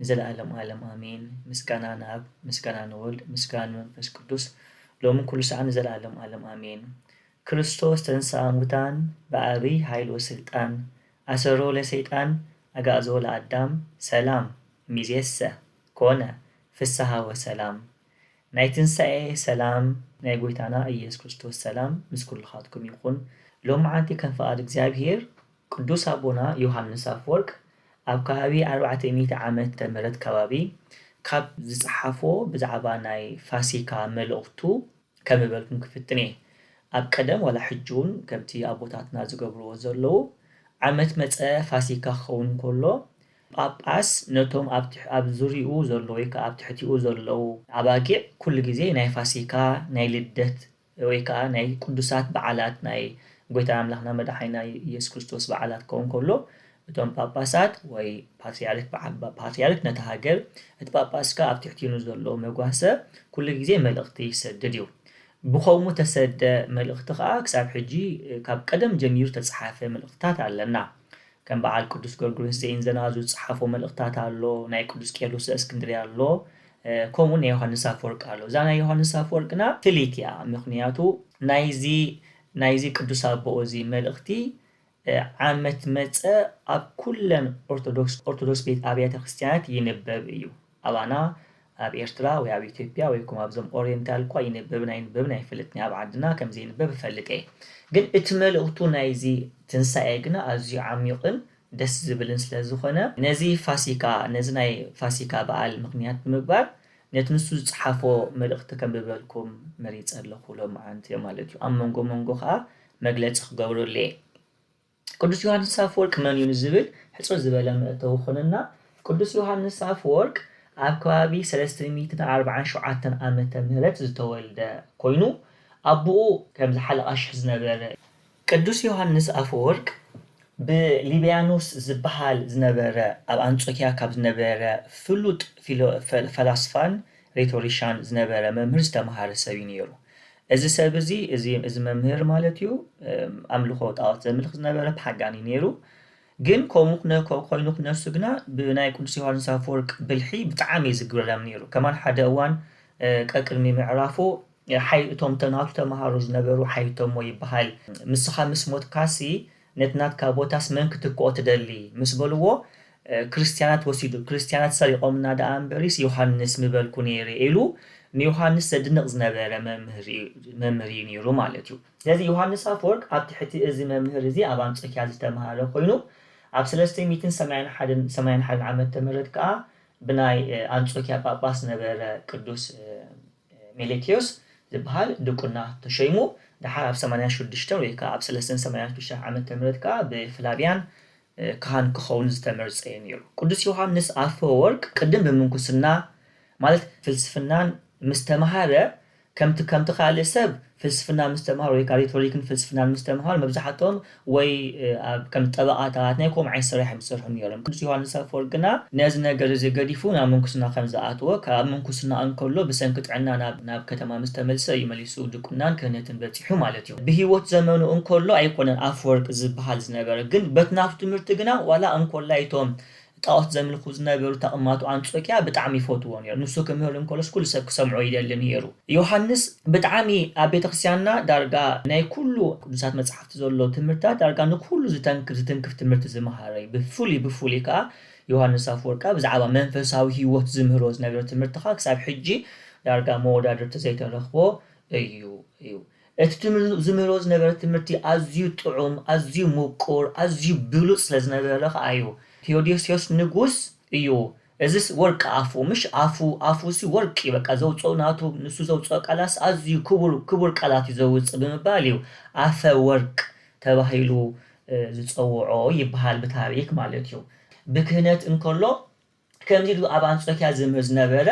ንዘለኣለም ኣለም ኣሜን ምስጋና ንኣብ ምስጋና ንወልድ ምስጋና ንመንፈስ ቅዱስ ሎምን ኩሉ ሳዕ ንዘለኣለም ኣለም ኣሜን ክርስቶስ ተንሥኣ እሙታን ብዓቢይ ኃይል ወሥልጣን ኣሰሮ ለሰይጣን ኣግኣዞ ለኣዳም ሰላም እምይእዜሰ ኮነ ፍሥሓ ወሰላም ናይ ትንሣኤ ሰላም ናይ ጐይታና ኢየሱስ ክርስቶስ ሰላም ምስ ኩልኻትኩም ይኹን ሎምዓንቲ ከም ፍቓድ እግዚኣብሔር ቅዱስ ኣቦና ዮሓንስ ኣፈወርቅ ኣብ ከባቢ ኣርባዕተ ሚእቲ ዓመተ ምህረት ከባቢ ካብ ዝጸሓፎ ብዛዕባ ናይ ፋሲካ መልእኽቱ ከምበልኩም ክፍትን እየ ኣብ ቀደም ዋላ ሕጂ ውን ከምቲ ኣቦታትና ዝገብርዎ ዘለዉ ዓመት መጸ ፋሲካ ክኸውን ከሎ ጳጳስ ነቶም ኣብ ዙርይኡ ዘሎ ወይ ከኣ ኣብ ትሕቲኡ ዘለዉ ኣባጊዕ ኩሉ ግዜ ናይ ፋሲካ ናይ ልደት ወይ ከኣ ናይ ቅዱሳት በዓላት ናይ ጐይታና ኣምላኽና መድሓኒና ኢየሱስ ክርስቶስ በዓላት ክኸውን ከሎ እቶም ጳጳሳት ወይ ፓትርያርክ በዓል ፓትርያርክ ነታ ሃገር እቲ ጳጳስ ከኣ ኣብ ትሕቲኡ ንዘሎ መጓሰ ኩሉ ግዜ መልእኽቲ ይሰድድ እዩ ብኸምኡ እተሰደ መልእኽቲ ከኣ ክሳብ ሕጂ ካብ ቀደም ጀሚሩ እተጸሓፈ መልእኽትታት ኣለና ከም በዓል ቅዱስ ጎርጎርዮስ ዘኢንዘናዙ ዝጸሓፎ መልእኽታት ኣሎ፣ ናይ ቅዱስ ቄርሎስ ዘእስክንድርያ ኣሎ፣ ከምኡውን ናይ ዮሃንስ ኣፈወርቅ ኣሎ። እዛ ናይ ዮሃንስ ኣፈወርቅ ግና ፍልይቲ እያ፣ ምኽንያቱ ናይዚ ናይዚ ቅዱስ ኣቦኡ እዚ መልእኽቲ ዓመት መጸ ኣብ ኩለን ኦርቶዶክስ ኦርቶዶክስ ቤት ኣብያተ ክርስቲያናት ይንበብ እዩ። ኣባና ኣብ ኤርትራ ወይ ኣብ ኢትዮጵያ ወይ ኮም ኣብዞም ኦሬንታል እኳ ይንበብን ኣይንበብን ኣይፈልጥን ኣብ ዓድና ከም ዘይንበብ እፈልጥ እየ ግን እቲ መልእኽቱ ናይዚ ትንሳኤ ግና ኣዝዩ ዓሚቕን ደስ ዝብልን ስለ ዝኾነ ነዚ ፋሲካ ነዚ ናይ ፋሲካ በዓል ምኽንያት ብምግባር ነቲ ንሱ ዝጸሓፎ መልእኽቲ ከንብበልኩም መሪጸ ኣለኹ ሎምዓንቲ ማለት እዩ ኣብ መንጎ መንጎ ከኣ መግለጺ ክገብረሉ እየ። ቅዱስ ዮሓንስ ኣፈወርቅ መን'ዩ ንዝብል ሕጽር ዝበለ መእተዊ ክኾነና፣ ቅዱስ ዮሓንስ ኣፈወርቅ ኣብ ከባቢ ሰለስተ ሚእትን ኣርብዓን ሸውዓተን ዓመተ ምህረት ዝተወልደ ኮይኑ፣ ኣቡኡ ከምዚ ሓለቓ ሽሕ ዝነበረ እዩ። ቅዱስ ዮሓንስ ኣፈወርቅ ብሊብያኖስ ዝበሃል ዝነበረ ኣብ ኣንጾክያ ካብ ዝነበረ ፍሉጥ ፈላስፋን ሬቶሪሻን ዝነበረ መምህር ዝተምሃረ ሰብ እዩ ነይሩ። እዚ ሰብ እዚ እዚ እዚ መምህር ማለት እዩ ኣምልኾ ጣዖት ዘምልኽ ዝነበረ ፓጋን እዩ ነይሩ። ግን ከምኡ ክነ ኮይኑ ክነሱ ግና ብናይ ቅዱስ ዮሃንስ ኣፈወርቅ ብልሒ ብጣዕሚ እዩ ዝግረም ነይሩ። ከማን ሓደ እዋን ቀቅድሚ ምዕራፉ ሓይ እቶም ተናቱ ተምሃሮ ዝነበሩ ሓይቶሞ ይበሃል ምስኻ ምስ ሞትካሲ ነቲ ናትካ ቦታስ መን ክትክኦ ትደሊ? ምስ በልዎ፣ ክርስትያናት ወሲዱ፣ ክርስትያናት ሰሪቖምና ደኣ እምበሪስ ዮሃንስ ምበልኩ ነይረ ኢሉ ንዮሃንስ ዘድንቕ ዝነበረ መምህር ኢዩ ነይሩ ማለት ኢዩ። ስለዚ ዮሃንስ ኣፈወርቅ ኣብ ትሕቲ እዚ መምህር እዚ ኣብ ኣንጾኪያ ዝተመሃረ ኮይኑ ኣብ ሰለስተ ሚእትን ሰማንያን ሓደን ሰማንያን ሓደን ዓመተ ምህረት ከኣ ብናይ ኣንጾኪያ ጳጳስ ዝነበረ ቅዱስ ሜሌትዮስ ዝበሃል ድቁና ተሾይሙ፣ ደሓር ኣብ ሰማንያን ሹድሽተን ወይ ከኣ ኣብ ሰለስተን ሰማንያን ሹድሽተን ዓመተ ምሕረት ከኣ ብፍላቪያን ካህን ክኸውን ዝተመርጸ'ዩ ነይሩ። ቅዱስ ዮሓንስ ኣፈወርቅ ቅድም ብምንኩስና ማለት ፍልስፍናን ምስ ተማህረ ከምቲ ከምቲ ካልእ ሰብ ፍልስፍና ምስትምሃር ወይ ካሪቶሪክን ፍልስፍናን ምስትምሃር መብዛሕትኦም ወይ ኣብ ከም ጠበቓታት ናይ ከምኡ ዓይነት ስራሕ እዮም ዝሰርሑ ነይሮም። ቅዱስ ዮሃንስ ኣፈወርቅ ግና ነዚ ነገር እዚ ገዲፉ ናብ ምንኩስና ከም ዝኣተወ ካብ ኣብ ምንኩስና እንከሎ ብሰንኪ ጥዕና ናብ ናብ ከተማ ምስ ተመልሰ እዩ መሊሱ ድቁናን ክህነትን በጺሑ ማለት እዩ። ብህይወት ዘመኑ እንከሎ ኣይኮነን ኣፈወርቅ ዝበሃል ዝነበረ ግን በቲ ናቱ ትምህርቲ ግና ዋላ እንኮላይ እቶም ጣኦት ዘምልኹ ዝነበሩ ተቕማቱ ኣንጾክያ ብጣዕሚ ይፈትዎ ኔሩ ንሱ ክምህር እንከሎስ ኩሉ ሰብ ክሰምዖ ይደሊ ኔሩ ዮሃንስ ብጣዕሚ ኣብ ቤተክርስትያንና ዳርጋ ናይ ኩሉ ቅዱሳት መጽሓፍቲ ዘሎ ትምህርትታት ዳርጋ ንኩሉ ዝተንክፍ ዝትንክፍ ትምህርቲ ዝመሃረ እዩ ብፍሉይ ብፍሉይ ከኣ ዮሃንስ ኣፍወርቃ ብዛዕባ መንፈሳዊ ሂወት ዝምህሮ ዝነበረ ትምህርትኻ ክሳብ ሕጂ ዳርጋ መወዳድርቲ ዘይተረኽቦ እዩ እዩ እቲ ትምህር ዝምህሮ ዝነበረ ትምህርቲ ኣዝዩ ጥዑም ኣዝዩ ሙቁር ኣዝዩ ብሉጽ ስለ ዝነበረ ከኣ እዩ ቴዎዶስዮስ ንጉስ እዩ እዝስ ወርቂ ኣፉ ምሽ ኣፉ ኣፉሲ ወርቂ እዩ በቃ ዘውጽኦ ናቱ ንሱ ዘውጽኦ ቃላትስ ኣዝዩ ክቡር ክቡር ቃላት እዩ ዘውጽእ ብምባል እዩ ኣፈ ወርቅ ተባሂሉ ዝጸውዖ ይብሃል ብታሪክ ማለት እዩ ብክህነት እንከሎ ከምዚ ኢሉ ኣብ ኣንጾክያ ዝነበረ፣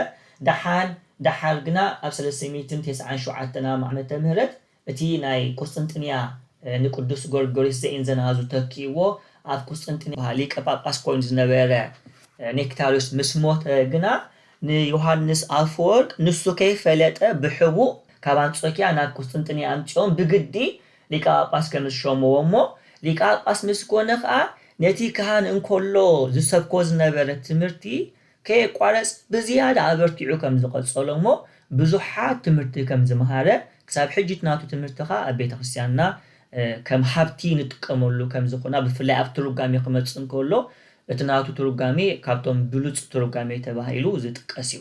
ደሓን ደሓር ግና ኣብ ሰለስተ ሚእትን ተስዓን ሸውዓተን ኣመተ ምህረት እቲ ናይ ቍስጥንጥንያ ንቅዱስ ጎርጎርዮስ ዘኢንዘናዙ ተኪእዎ ኣብ ቍስጥንጥንያ ሊቀ ጳጳስ ኮይኑ ዝነበረ ኔክታርዮስ ምስ ሞተ ግና ንዮሓንስ ኣፈወርቅ ንሱ ከይፈለጠ ብሕቡእ ካብ ኣንጾክያ ናብ ቍስጥንጥንያ ኣምጺኦም ብግዲ ሊቀ ጳጳስ ከም ዝሸምዎ እሞ ሊቀ ጳጳስ ምስ ኮነ ከኣ ነቲ ካህን እንከሎ ዝሰብኮ ዝነበረ ትምህርቲ ከየቋረጸ ብዝያዳ ኣበርቲዑ ከም ዝቐጸሎ እሞ ብዙሓት ትምህርቲ ከም ዝመሃረ ክሳብ ሕጂ እቲ ናቱ ትምህርቲ ከኣ ኣብ ቤተ ክርስትያንና ከም ሃብቲ ንጥቀመሉ ከም ዝኹና ብፍላይ ኣብ ትርጓሜ ክመጽእ እንከሎ እቲ ናቱ ትርጓሜ ካብቶም ብሉጽ ትርጓሜ ተባሂሉ ዝጥቀስ እዩ።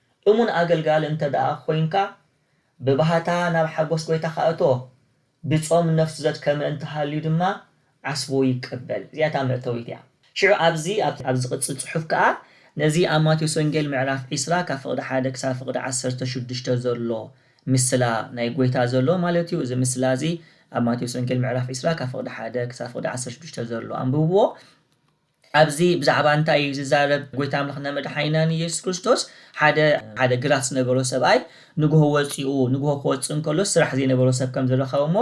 እሙን ኣገልጋሊ እንተ ደኣ ዄንካ፣ ብባህታ ናብ ሓጐስ ጐይታኻ እቶ፣ ብጾም ነፍሱ ዘድከመ እንተ ሃልዩ ድማ፣ ዓስቡ ይቀበል። እዚኣ እታ መእተዊት እያ። ሽዑ ኣብዚ ኣብቲ ኣብ ዚቕጽል ጽሑፍ ከኣ፣ ነዚ ኣብ ማቴዎስ ወንጌል ምዕራፍ ዕስራ ካብ ፍቕዲ ሓደ ክሳብ ፍቕዲ ዓሰርተ ሽዱሽተ ዘሎ ምስላ ናይ ጐይታ ዘሎ ማለት እዩ፣ እዚ ምስላ እዚ ኣብ ማቴዎስ ወንጌል ምዕራፍ ዕስራ ካብ ፍቕዲ ሓደ ክሳብ ፍቕዲ ዓሰርተ ሽዱሽተ ዘሎ ኣንብብዎ። ኣብዚ ብዛዕባ እንታይ እዩ ዝዛረብ ጎይታ ኣምላኽና መድሓኒናን ኢየሱስ ክርስቶስ ሓደ ሓደ ግራት ዝነበሮ ሰብኣይ ንግሆ ወጺኡ ንግሆ ክወጽእ እንከሎ ስራሕ ዘይነበሮ ሰብ ከም ዝረኸበ እሞ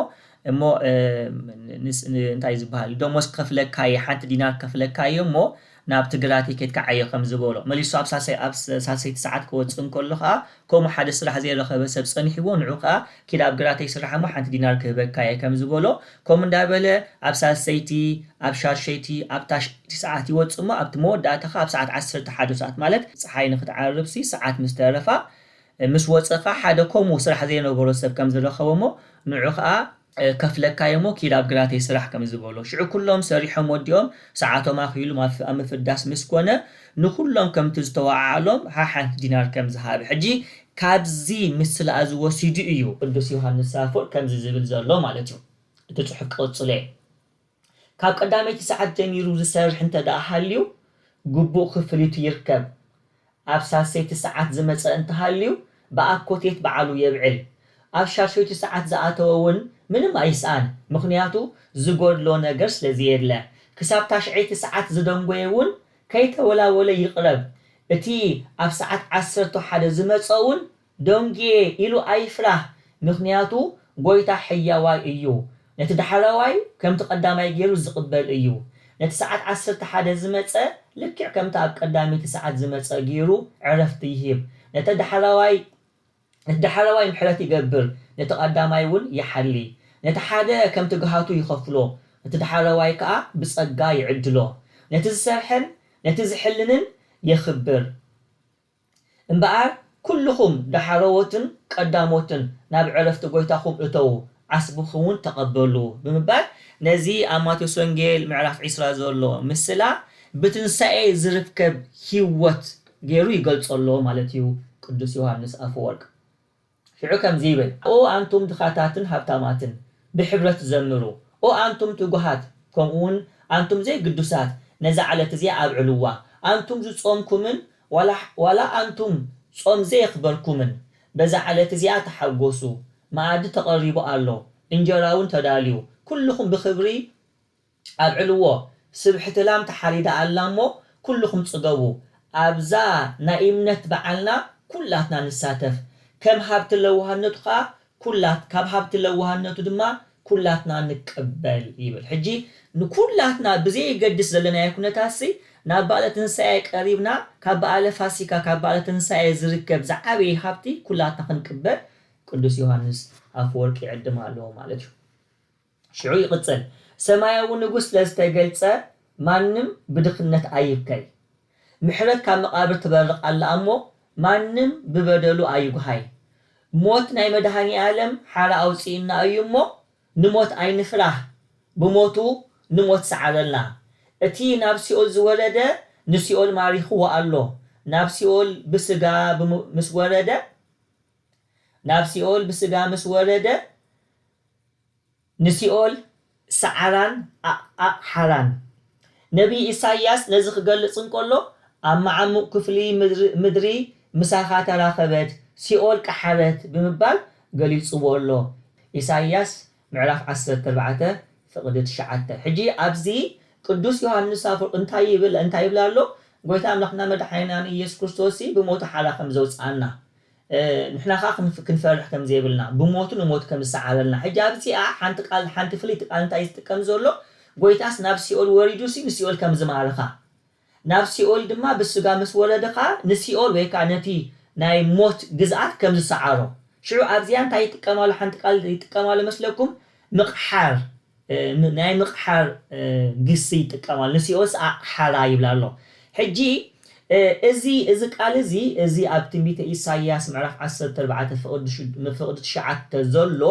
እሞ እንታይ ዝበሃል ደሞዝ ክኸፍለካ እየ ሓንቲ ዲናር ክኸፍለካ እየ እሞ ናብቲ ግራተይ ኬድካ ዓዮ ከም ዝበሎ መሊሱ ኣብ ሳልሰይ ኣብ ሳልሰይቲ ሰዓት ክወጽእ እንከሎ ኸኣ ከምኡ ሓደ ስራሕ ዘይረኸበ ሰብ ጸኒሕዎ ንዑ ከኣ ኪድ ኣብ ግራተይ ስራሕ እሞ ሓንቲ ዲናር ክህበካ እየ ከም ዝበሎ ከምኡ እንዳበለ ኣብ ሳልሰይቲ ኣብ ሻድሸይቲ ኣብ ታሽዐይቲ ሰዓት ይወጽእ እሞ ኣብቲ መወዳእታ ከኣ ኣብ ሰዓት ዓሰርተ ሓደ ሰዓት ማለት ጸሓይ ንኽትዓርብሲ ሰዓት ምስ ተረፋ ምስ ወጸ ከኣ ሓደ ከምኡ ስራሕ ዘይነበሮ ሰብ ከም ዝረኸቦ እሞ ንዑ ከኣ ከፍለካ'የ'ሞ ኪድ ኣብ ግራተይ ስራሕ ከም ዝበሎ፣ ሽዑ ኩሎም ሰሪሖም ወዲኦም ሰዓቶም ኣኺሉ ኣብ ምፍዳስ ምስ ኮነ፣ ንኹሎም ከምቲ ዝተወዓዓሎም ሓሓንቲ ዲናር ከም ዝሃበ። ሕጂ ካብዚ ምስላ'ዚ ወሲዱ እዩ ቅዱስ ዮሃንስ ኣፈወርቅ ከምዚ ዝብል ዘሎ ማለት'ዩ እቲ ጽሑፍ ቀጽሎ'የ። ካብ ቀዳመይቲ ሰዓት ጀሚሩ ዝሰርሕ እንተድኣ ሃልዩ ግቡእ ክፍሊቱ ይርከብ። ኣብ ሳልሰይቲ ሰዓት ዝመጸ እንተሃልዩ ብኣኮቴት በዓሉ የብዕል። ኣብ ሻድሸይቲ ሰዓት ዝኣተወ እውን ምንም ኣይስኣን ምኽንያቱ ዝጎድሎ ነገር ስለዘየለ። ክሳብ ታሽዐይቲ ሰዓት ዝደንጎየ እውን ከይተወላወለ ይቕረብ። እቲ ኣብ ሰዓት ዓሰርተ ሓደ ዝመጸ እውን ደንጉየ ኢሉ ኣይፍራህ፣ ምኽንያቱ ጐይታ ሕያዋይ እዩ፣ ነቲ ዳሕረዋይ ከምቲ ቀዳማይ ገይሩ ዚቕበል እዩ፣ ነቲ ሰዓት ዓሰርተ ሓደ ዝመጸ ልክዕ ከምታ ኣብ ቀዳመይቲ ሰዓት ዝመጸ ገይሩ ዕረፍቲ ይህብ፣ ነቲ ዳሕረዋይ ነቲ ዳሕረዋይ ምሕረት ይገብር፣ ነቲ ቀዳማይውን ይሓሊ፣ ነቲ ሓደ ከምቲ ግሃቱ ይኸፍሎ፣ ነቲ ዳሕረዋይ ከኣ ብጸጋ ይዕድሎ፣ ነቲ ዝሰርሐን ነቲ ዚሕልንን የኽብር። እምበኣር ኵልኹም ዳሕረዎትን ቀዳሞትን ናብ ዕረፍቲ ጐይታኹም እተዉ፣ ዓስብኹምውን ተቐበሉ ብምባል ነዚ ኣብ ማቴዎስ ወንጌል ምዕራፍ ዕስራ ዘሎ ምስላ ብትንሳኤ ዝርከብ ህይወት ገይሩ ይገልጾ ኣሎ ማለት እዩ ቅዱስ ዮሃንስ ኣፈወርቅ። ሽዑ ከምዚ ይብል፣ ኦ ኣንቱም ድኻታትን ሃብታማትን፣ ብሕብረት ዘምሩ፣ ኦ ኣንቱም ትጉሃት፣ ከምኡውን ኣንቱም ዘይግዱሳት፣ ነዛ ዕለት እዚኣ ኣብዕልዋ፣ ኣንቱም ዝጾምኩምን ዋላ ዋላ ኣንቱም ጾም ዘየኽበርኩምን፣ በዛ ዕለት እዚኣ ተሓጐሱ፣ መኣዲ ተቐሪቡ ኣሎ፣ እንጀራውን ተዳልዩ፣ ኩሉኹም ብኽብሪ ኣብዕልዎ ስብሕቲ ላም ተሓሪዳ ኣላ እሞ ኩሉኹም ጽገቡ ኣብዛ ናይ እምነት በዓልና ኩላትና ንሳተፍ ከም ሃብቲ ለዋህነቱ ከኣ ኩላት ካብ ሃብቲ ለዋህነቱ ድማ ኩላትና ንቀበል ይብል ሕጂ ንኩላትና ብዘየገድስ ዘለናዮ ኩነታትሲ ናብ በኣለ ትንሳኤ ቀሪብና ካብ በኣለ ፋሲካ ካብ በኣለ ትንሳኤ ዝርከብ ዝዓበየ ሃብቲ ኩላትና ክንቅበል ቅዱስ ዮሃንስ ኣፈወርቅ ይዕድም ኣሎ ማለት እዩ። ሽዑ ይቕጽል፣ ሰማያዊ ንጉስ ስለ ዝተገልጸ ማንም ብድኽነት ኣይብከይ። ምሕረት ካብ መቓብር ትበርቕ ኣላ እሞ ማንም ብበደሉ ኣይጉሃይ። ሞት ናይ መድሃኒኣለም ሓራ ኣውጺኡና እዩ እሞ ንሞት ኣይንፍራህ ብሞቱ ንሞት ሰዓረልና። እቲ ናብ ሲኦል ዝወረደ ንሲኦል ማሪኽዎ ኣሎ ናብ ሲኦል ብስጋ ምስ ወረደ ናብ ሲኦል ብስጋ ምስ ወረደ ንሲኦል ሰዓራን ዓቕዓቕ ሓራን። ነብዪ ኢሳይያስ ነዚ ክገልጽ እንከሎ፣ ኣብ መዓሙቕ ክፍሊ ምድሪ ምሳኻ ተራኸበት፣ ሲኦል ቀሓረት ብምባል ገሊጽዎ ኣሎ፣ ኢሳይያስ ምዕራፍ ዓሰርተ ኣርባዕተ ፍቕዲ ትሽዓተ። ሕጂ ኣብዚ ቅዱስ ዮሃንስ ኣፈወርቅ እንታይ ይብል እንታይ ይብል ኣሎ፣ ጎይታ ኣምላኽና መድሓኒናን ኢየሱስ ክርስቶስሲ ብሞቱ ሓራ ከም ዘውጽኣና፣ ንሕና ከኣ ክንፍ ክንፈርሕ ከም ዘይብልና ብሞቱ ንሞት ከም ዝሰዓረልና ሕጂ ኣብዚኣ ሓንቲ ቃል ሓንቲ ፍልይቲ ቃል እንታይ ዝጥቀም ዘሎ ጎይታስ ናብ ሲኦል ወሪዱሲ ንሲኦል ከም ዝማረኻ ናብ ሲኦል ድማ ብስጋ ምስ ወረደ ከኣ ንሲኦል ወይ ከኣ ነቲ ናይ ሞት ግዝኣት ከም ዝሰዓሮ ሽዑ ኣብዚኣ እንታይ ይጥቀም ኣሎ ሓንቲ ቃል ይጥቀም ኣሎ መስለኩም ምቕሓር ናይ ምቕሓር ግሲ ይጥቀማሉ ንሲኦስ ኣቕሓራ ይብላ ኣሎ ሕጂ እዚ እዚ ቃል እዚ እዚ ኣብ ትንቢተ ኢሳይያስ ምዕራፍ ዓሰርተ ኣርባዕተ ፍቕዲ ሽዱ ምፍቕዲ ትሽዓተ ዘሎ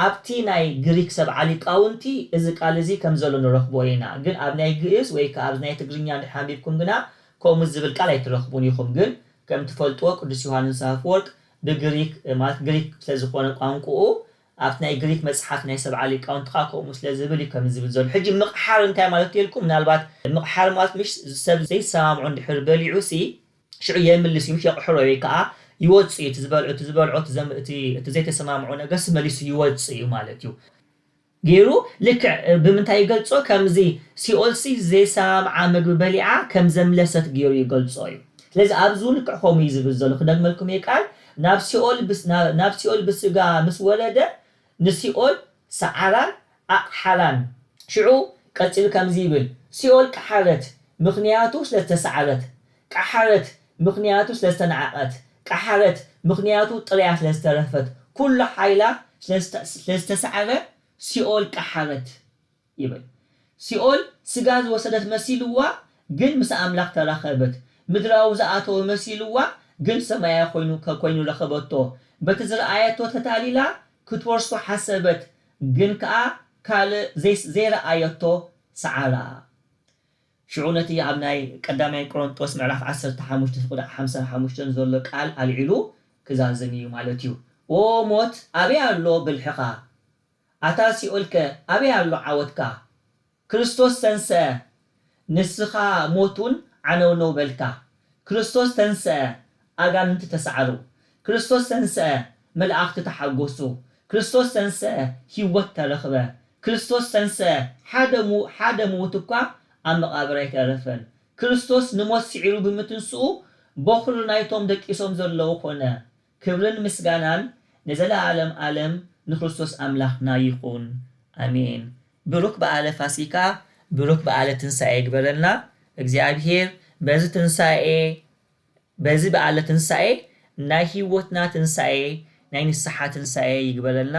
ኣብቲ ናይ ግሪክ ሰብዓ ሊቃውንቲ እዚ ቃል እዚ ከም ዘሎ ንረኽቦ ኢና ግን ኣብ ናይ ግእዝ ወይ ክኣ ኣብ ናይ ትግርኛ እንድሕር ኣንቢብኩም ግና ከምኡ ዝብል ቃል ኣይትረኽቡን ኢኹም ግን ከም ትፈልጥዎ ቅዱስ ዮሃንስ ኣፍወርቅ ብግሪክ ማለት ግሪክ ስለ ዝኾነ ቋንቁኡ ኣብቲ ናይ ግሪክ መጽሓፍ ናይ ሰብዓ ሊቃውንቲ ከኣ ከምኡ ስለ ዝብል እዩ ከምዚ ዝብል ዘሎ። ሕጂ ምቕሓር እንታይ ማለት እዩ ኢልኩም ምናልባት ምቕሓር ማለት ምሽ ሰብ ዘይሰማምዑ እንድሕር በሊዑሲ ሽዑ የምልስ እዩ ምሽ የቕሕሮ ወይ ከኣ ይወጽእ እዩ እቲ ዝበልዑ እቲ ዝበልዖ እቲ እቲ ዘይተሰማምዑ ነገርሲ መሊሱ ይወጽእ እዩ ማለት እዩ ጌሩ ልክዕ ብምንታይ ይገልጾ ከምዚ ሲኦልሲ ዘይሰማምዓ ምግቢ በሊዓ ከም ዘምለሰት ጌሩ ይገልጾ እዩ። ስለዚ ኣብዚ እውን ልክዕ ከምኡ እዩ ዝብል ዘሎ ክደግመልኩም እየ ቃል ናብ ሲኦል ብስ ናብ ሲኦል ብስጋ ምስ ወረደ ንሲኦል ሰዓራን ኣቕሓራን። ሽዑ ቀጺሉ ከምዚ ይብል ሲኦል ቀሓረት ምኽንያቱ ስለ ዝተሰዓረት፣ ቀሓረት ምኽንያቱ ስለ ዝተናዕቐት፣ ቀሓረት ምኽንያቱ ጥርያ ስለ ዝተረፈት፣ ኩሉ ሓይላ ስለ ዝተሰዓረ ሲኦል ቀሓረት። ይብል ሲኦል ስጋ ዝወሰደት መሲልዋ ግን ምስ ኣምላኽ ተራኸበት ምድራዊ ዝኣተወ መሲልዋ ግን ሰማያዊ ኮይኑ ኮይኑ ረኸበቶ በቲ ዝረኣየቶ ተታሊላ ክትወርሶ ሓሰበት ግን ከኣ ካልእ ዘይስ ዘይረኣየቶ ሰዓራ ሽዑ ነቲ ኣብ ናይ ቀዳማይ ቆሮንጦስ ምዕራፍ ዓሰርተ ሓሙሽተ ፍቅዲ ሓምሳን ሓሙሽተን ዘሎ ቃል ኣልዒሉ ክዛዝም እዩ ማለት እዩ ኦ ሞት ኣበይ ኣሎ ብልሕኻ። ኣታ ሲኦልከ ኣበይ ኣሎ ዓወትካ? ክርስቶስ ተንሥአ ንስኻ ሞትውን ዓነውነው በልካ። ክርስቶስ ተንሥአ ኣጋንንቲ ተሳዕሩ። ክርስቶስ ተንሥአ መላእኽቲ ተሓጎሱ። ክርስቶስ ተንሥአ ሕይወት ተረኽበ። ክርስቶስ ተንሥአ ሓደ ሓደ ምዉት እኳ ኣብ መቓብር ኣይተረፈን። ክርስቶስ ንሞት ስዒሩ ብምትንሥኡ ቦኽሪ ናይቶም ደቂሶም ዘለዉ ኮነ። ክብርን ምስጋናን ንዘለኣለም ኣለም ንክርስቶስ ኣምላኽና ይኹን ኣሜን ብሩክ በኣለ ፋሲካ ብሩክ በኣለ ትንሳኤ ይግበረልና እግዚኣብሔር በዚ ትንሳኤ በዚ በኣለ ትንሳኤ ናይ ህይወትና ትንሳኤ ናይ ንስሓ ትንሳኤ ይግበረልና